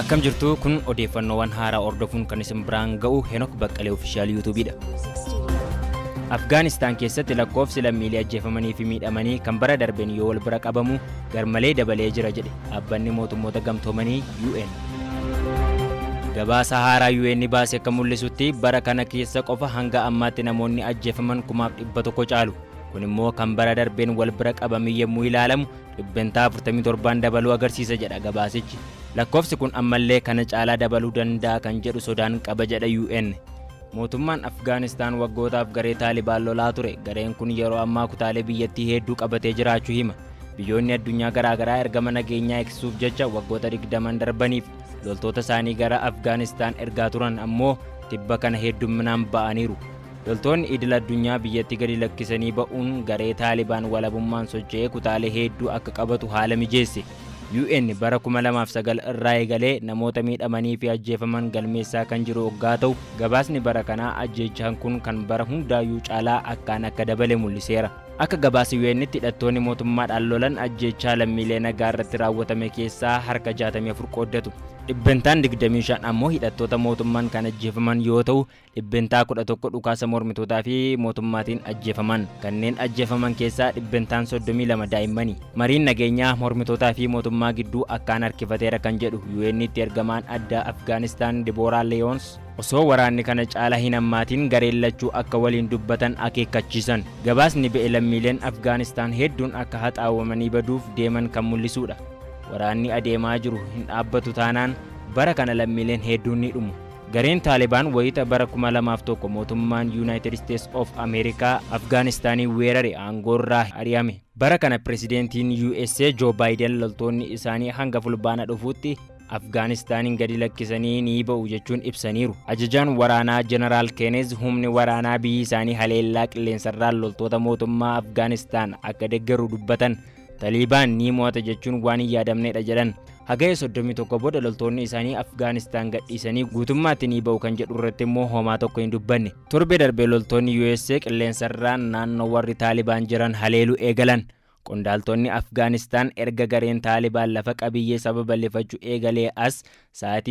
Akkam jirtu kun odeeffannoowwan haaraa hordofuun kan isin biraan ga'u Henok Baqqalee Ofishaal Yuutuubiidha. Afgaanistaan keessatti lakkoofsi lammiilee ajjeefamanii fi miidhamanii kan bara darbeen yoo wal bira qabamu garmalee dabalee jira jedhe dhaabbanni mootummoota gamtoomanii UN. Gabaasa haaraa UN baase akka mul'isutti bara kana keessa qofa hanga ammaatti namoonni ajjeefaman kumaaf dhibba tokko caalu. Kun immoo kan bara darbeen wal bira qabamee yommuu ilaalamu dhibbentaa 47n dabaluu agarsiisa jedha gabaasichi. Lakkoofsi kun ammallee kana caalaa dabaluu danda'a kan jedhu sodaan qaba jedha UN. Mootummaan Afgaanistaan waggootaaf garee Taalibaan lolaa ture. Gareen kun yeroo ammaa kutaalee biyyattii hedduu qabatee jiraachuu hima. Biyyoonni addunyaa garaagaraa ergama nageenyaa eegsisuuf jecha waggoota 20n darbaniif loltoota isaanii gara Afgaanistaan ergaa turan ammoo tibba kana heddumminaan ba'aniiru. Loltoonni idil addunyaa biyyatti gadi lakkisanii ba'uun garee Taalibaan walabummaan socho'ee kutaalee heedduu akka qabatu haala mijeesse. UN bara 2009 irraa eegalee namoota miidhamanii fi ajjeefaman galmeessaa kan jiru oggaa ta'u, gabaasni bara kanaa ajjeechaan kun kan bara hundaayyuu caalaa akkaan akka dabale mul'iseera. Akka gabaasa UN'tti hidhattoonni mootummaadhaan lolan ajjeechaa lammiilee nagaa irratti raawwatame keessaa harka 64 qooddatu. Dhibbentaan 25 ammoo hidhattoota mootummaan kan ajjeefaman yoo ta'u, Dhibbentaa 11 dhukaasa mormitootaa fi mootummaatiin ajjeefaman. Kanneen ajjeefaman keessaa dhibbentaan 32 daa'immani. Mariin nageenyaa mormitootaa fi mootummaa gidduu akkaan harkifateera kan jedhu UN'tti ergamaan addaa Afgaanistaan Dibooraa Leeyoons, osoo waraanni kana caala hin hammaatiin gareen lachuu akka waliin dubbatan akeekkachiisan. Gabaasni ba'e lammiileen Afgaanistaan hedduun akka haxaawamanii baduuf deeman kan mul'isuudha. Waraanni adeemaa jiru hin dhaabbatu taanaan bara kana lammiileen hedduun ni dhumu. Gareen Taalibaan wayita bara 2001 mootummaan Yuunaayitid Isteets of Ameerikaa Afgaanistaanii weerare aangoorraa ari'ame. Bara kana Pireezidantiin USA Joo Baayiden loltoonni isaanii hanga Fulbaana dhufuutti Afgaanistaaniin gadi lakkisanii ni ba'u jechuun ibsaniiru. Ajajaan waraanaa Jeneraal Keeneez humni waraanaa biyyi isaanii haleellaa qilleensarraan loltoota mootummaa Afgaanistaan akka deggeru dubbatan. Taliibaan ni mo'ata jechuun waan hin yaadamnedha jedhan. Hagaya 31 booda loltoonni isaanii Afgaanistaan gadhiisanii guutummaatti ni ba'u kan jedhu irratti immoo homaa tokko hin dubbanne. Torbee darbee loltoonni USA qilleensarraan naannoo warri Taalibaan jiran haleelu eegalan. Qondaaltonni Afgaanistaan erga gareen Taalibaan lafa qabiyyee saba bal'ifachu eegalee as sa'aatii